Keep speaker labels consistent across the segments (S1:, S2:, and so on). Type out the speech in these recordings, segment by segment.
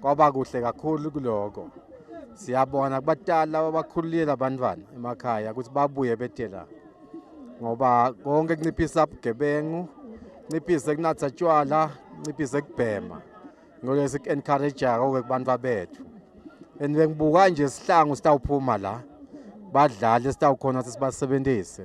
S1: kwaba kuhle kakhulu kuloko siyabona kubatala abakhululile abantwana emakhaya ukuthi babuye bethe la ngoba konke kunciphisa ubugebengu nciphise kunatha tshwala nciphise kubhema ngolwe siku-encouraja koke kubantu babethu and bengibuka nje sihlangu sitawuphuma la badlali esitawukhona sisibasebenzise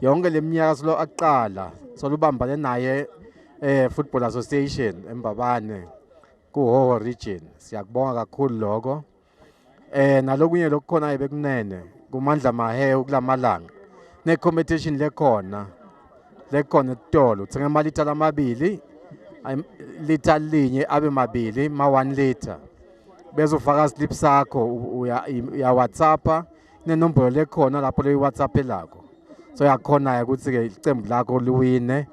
S1: yonke leminyaka silo akuqala solubambane naye eh Football Association eMbabane kuHoho region siyakubonga kakhulu lokho eh nalokunye lokukhona bekunene kumandla mahe ukulamalanga ne competition lekhona lekhona etitolo uthenga imali ithala amabili litha linye abe mabili ma 1 liter bezofaka slip sakho uya uya WhatsAppa nenombolo lekhona lapho leyi-whatsapp elakho so yakhona-ke ukuthi-ke iqembu lakho liwine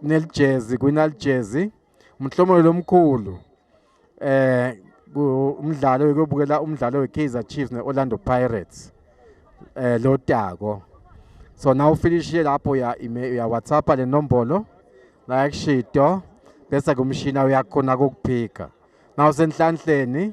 S1: nelijezi kwinalijezi umhlomelo lomkhulu eh umdlalo wekuyobukela umdlalo we-kaizer chiefs ne-orlando pirates eh lo tako so na ufinishile lapho uya-whatsapp le nombolo like shito bese kumshina uyakhona kokuphika na usenhlanhleni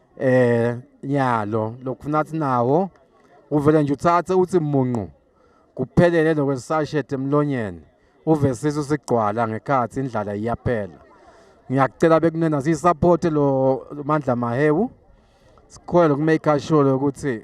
S1: eh nyalo lokufuna athi nawo uvele nje uthathe uthi munqu kuphelele lokwesashete emlonyeni uve sisu sigcwala ngekhathi indlala iyaphela ngiyakucela bekunena siyisupport lo Mandla Mahewu sikhwele kumake sure ukuthi